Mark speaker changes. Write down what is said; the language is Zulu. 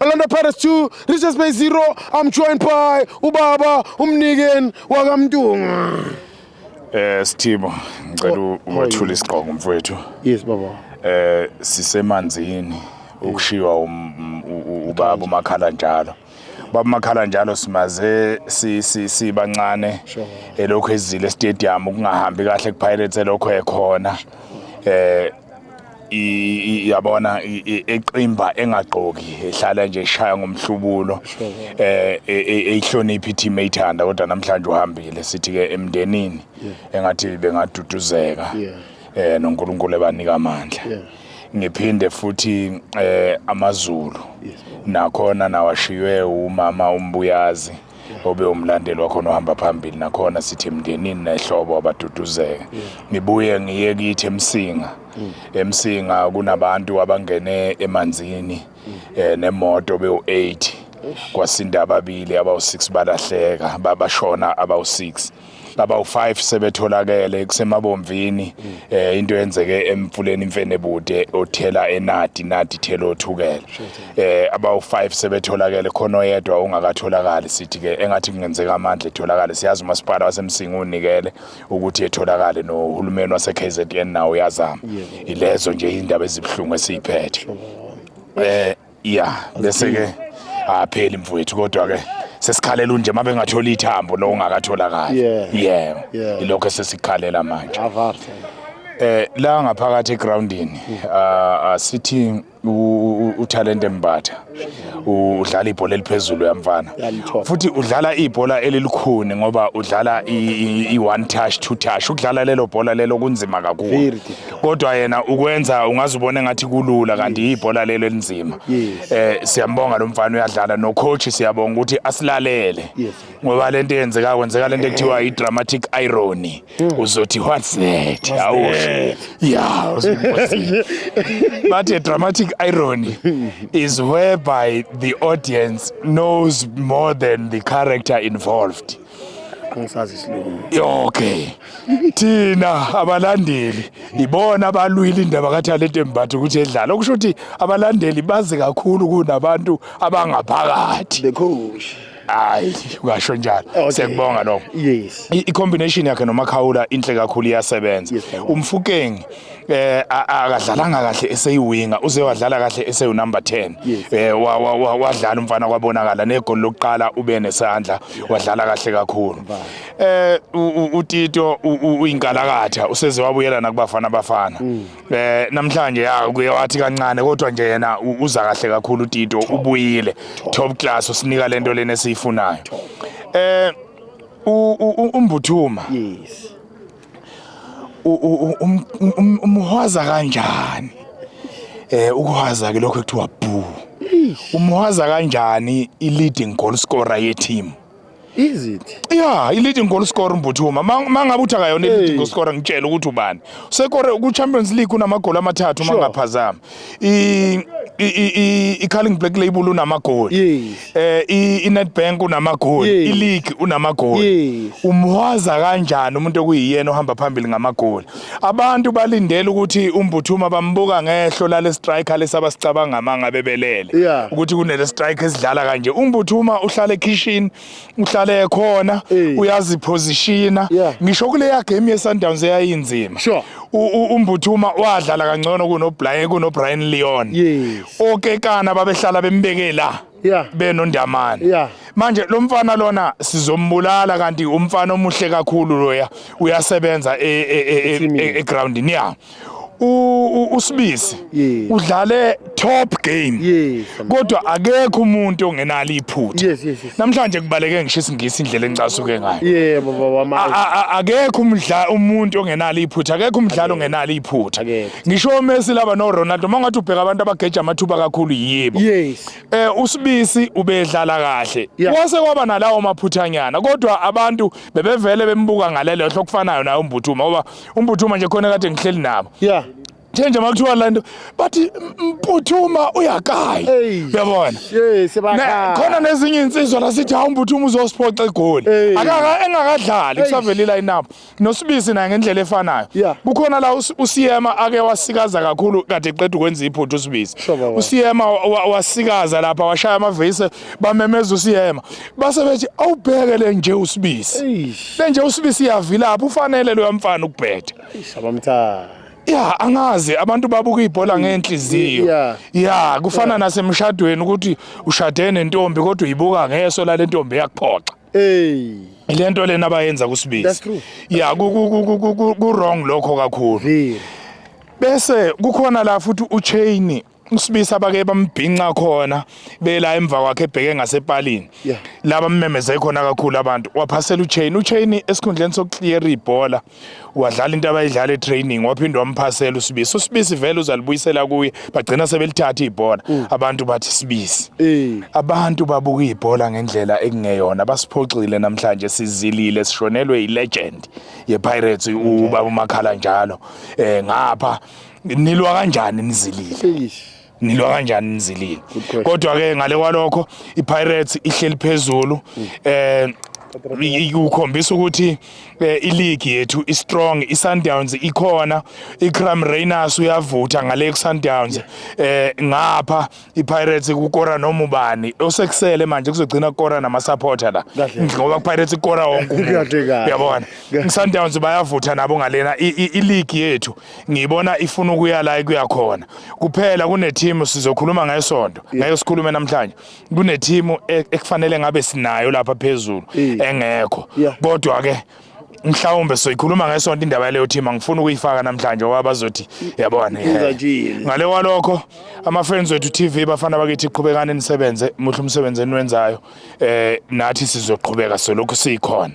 Speaker 1: Orlando Pirates 2, Richards Bay 0. I'm joined by ubaba umnikeni wakamntungwa. Eh
Speaker 2: Sithibo, ngicela oh, uwathule isigqoko mfowethu. Yes baba.
Speaker 1: Eh sisemanzini
Speaker 2: ukushiwa um, um, ubaba umakhala njalo. Baba makhala njalo simaze si si sibancane elokhu ezile stadium kungahambi kahle kuPirates elokho ekhona. Eh yabona eqimba engagqoki ehlala nje eshaya ngomhlubulo eh e, e, eyihloniphi i-team eyithanda kodwa namhlanje uhambile sithi-ke emndenini engathi bengaduduzeka eh noNkulunkulu ebanika amandla ngiphinde futhi eh amaZulu nakhona nawashiywe umama umbuyazi obe umlandeli wakhona ohamba phambili nakhona sithi mndenini nehlobo abaduduzeke ngibuye ngiye kithi emsinga mm. emsinga kunabantu abangene emanzini mm. eh, nemoto bewu-8 kwasinda ababili abawu-6 balahleka babashona abawu-6 abawu-5 sebetholakele kusemabomvini mm. eh into yenzeke emfuleni imfenebude othela enadi nadi thela othukela eh abawu-5 sebetholakele khona oyedwa ongakatholakali sithi ke engathi kungenzeka amandla etholakale siyazi umasipala wasemsinga unikele ukuthi etholakale nohulumeni wase-KZN nawo uyazama ilezo nje indaba ezibuhlungu esiyiphethe eh ya bese ke apheli mfowethu kodwa ke sesikhalela unje uma bengatholi ithambo lo ungakatholakali Yeah. yebo Yeah. ilokho esesikhalela manje Avarte. Eh la ngaphakathi egroundini ah, ah, sithi u- u- uThalente Mbatha u- udlala ibhola eliphezulu yamfana Yalithoba. futhi udlala ibhola elilukhuni ngoba udlala i- i i- one touch two touch ukudlala lelo bhola lelo kunzima kakhulu Very difficult. kodwa yena ukwenza ungaze ubone ngathi kulula kanti yibhola lelo elinzima eh siyambonga lo mfana uyadlala no coach siyabonga ukuthi asilalele ngoba lento eyenzeka kwenzeka lento ekuthiwa i dramatic irony hmm. uzothi what's that awu yeah but a dramatic irony is whereby the audience knows more than the character involved angisazi isilungu okay thina abalandeli ibona abalwile indaba kathalente mbatha ukuthi edlala okusho ukuthi abalandeli bazi kakhulu kunabantu abangaphakathi bekhosha
Speaker 1: hayi
Speaker 2: ungasho njalo okay. sekubonga lokho yes i-combination yakhe nomakhawula inhle kakhulu iyasebenza yes, umfukeng eh akadlalanga kahle eseyiwinga uze wadlala kahle eseyu number 10 eh wadlala umfana kwabonakala negoli lokuqala ube nesandla wadlala kahle kakhulu eh utito uyinkalakatha useze wabuyela nakubafana bafana mm. eh namhlanje ya kuyawathi kancane kodwa nje yena uza kahle kakhulu utito ubuyile top class usinika lento lena esiyifunayo eh umbuthuma yes umhwaza kanjani eh ukuhwaza ke lokho ekuthiwa boo umhwaza kanjani i leading goal scorer ye team Is it?
Speaker 1: Yeah, i leading goal
Speaker 2: scorer Mbuthuma. Mangabe uthi akayona i leading goal scorer ngitshela ukuthi ubani. Sekore ku Champions League unamagoli amathathu mangaphazama. i-calling black label unamagoli yes. eh i-netbank unamagoli yes. ileague unamagoli yes. umhwaza kanjani umuntu okuyiyena ohamba phambili ngamagoli abantu balindele ukuthi umbuthuma bambuka ngehlo lale striker lesaba sicabanga manga bebelele yeah. ukuthi kunele strike esidlala kanje umbuthuma uhlala ekhishini uhlale khona Eh. uyaziphozishina Yeah. ngisho kuleya game yeSundowns eyayinzima Sure. U- u- umbuthuma wadlala kangcono kunoBrian kunoBrian Leon Yes. okekana babehlala bembeke la Yeah. benondamane Yeah. manje lo mfana lona sizombulala kanti umfana omuhle kakhulu loya uyasebenza e- e- e- e- Ethimini. e- egroundini ya usibisi udlale top game yes, kodwa
Speaker 1: akekho
Speaker 2: umuntu ongenalo iphutha yes, yes, yes. namhlanje
Speaker 1: kubaleke
Speaker 2: ngisho isingisi indlela engicasuke ngayo yeah, baba wamanje
Speaker 1: akekho umdla
Speaker 2: umuntu ongenalo iphutha akekho umdlalo ongenalo iphutha ngisho uMessi laba no Ronaldo mangathi ubheka abantu abageja amathuba kakhulu yibo yes eh
Speaker 1: usibisi
Speaker 2: ubedlala kahle yeah. wase kwaba nalawo maphuthanyana kodwa abantu bebevele bembuka ngalelo hlo kufanayo nayo umbuthu ngoba umbuthuma nje khona kade ngihleli nabo yeah njenje
Speaker 1: makuthiwa
Speaker 2: lento bathi mputhuma uyakayi uyabona khona nezinye insizwa la sithi hawu mputhuma uzosiphoxa egoli akaka engakadlali kusavelile inabo nosibisi naye ngendlela efanayo kukhona la usiyema ake wasikaza kakhulu kade eqeda ukwenza iphuthu usibisi usiyema wasikaza lapha washaya amavese bamemeza usiyema base bethi awubheke le nje usibisi le nje usibisi iyavilapha ufanele loya mfana ukubhetha shabamthanda
Speaker 1: ya angazi
Speaker 2: abantu babuka ibhola ngenhliziyo ya kufana nasemshadweni ukuthi ushade nentombi kodwa uyibuka ngeso lale ntombi yakuphoxa hey lento lena abayenza kusibisi ya
Speaker 1: ku
Speaker 2: wrong lokho kakhulu bese kukhona la futhi uchain usibisa bake bambhinca khona bela emva kwakhe ebheke ngasepalini yeah. laba mmemeze khona kakhulu abantu waphasela uchain uchain esikhundleni sokuclear ibhola wadlala into abayidlala etraining waphinde wamphasela usibisi usibisi vele uzalibuyisela kuye bagcina sebelithatha ibhola mm. abantu bathi sibisi mm. abantu babuka ibhola ngendlela ekungeyona basiphoxile namhlanje sizilile sishonelwe ilegend yepirates ubaba umakhala njalo eh ngapha nilwa kanjani nizilile nilwa kanjani nizilile kodwa ke ngale kwalokho iPirates ihleli phezulu mm. eh ukhombisa ukuthi eh, iligi yethu i strong i Sundowns ikhona i Cram Rainers uyavutha ngale ku Sundowns eh ngapha i Pirates kukora noma ubani osekusele manje kuzogcina kukora nama supporter la ngoba ku Pirates ikora wonke umuntu uyabona i Sundowns bayavutha nabo ngalena i league yethu ngiyibona ifuna ukuya la ikuya khona kuphela kunethimu sizokhuluma ngesonto ngeke sikhulume namhlanje kunethimu e- ekufanele ngabe sinayo lapha phezulu engekho kodwa ke mhlawumbe soyikhuluma ngesonto indaba yaleyo team angifuni ukuyifaka namhlanje ngoba bazothi yabona ngale kwalokho ama-friends wethu tv bafana bakithi qhubekani nisebenze muhle umsebenzi eniwenzayo um nathi sizoqhubeka solokhu siyikhona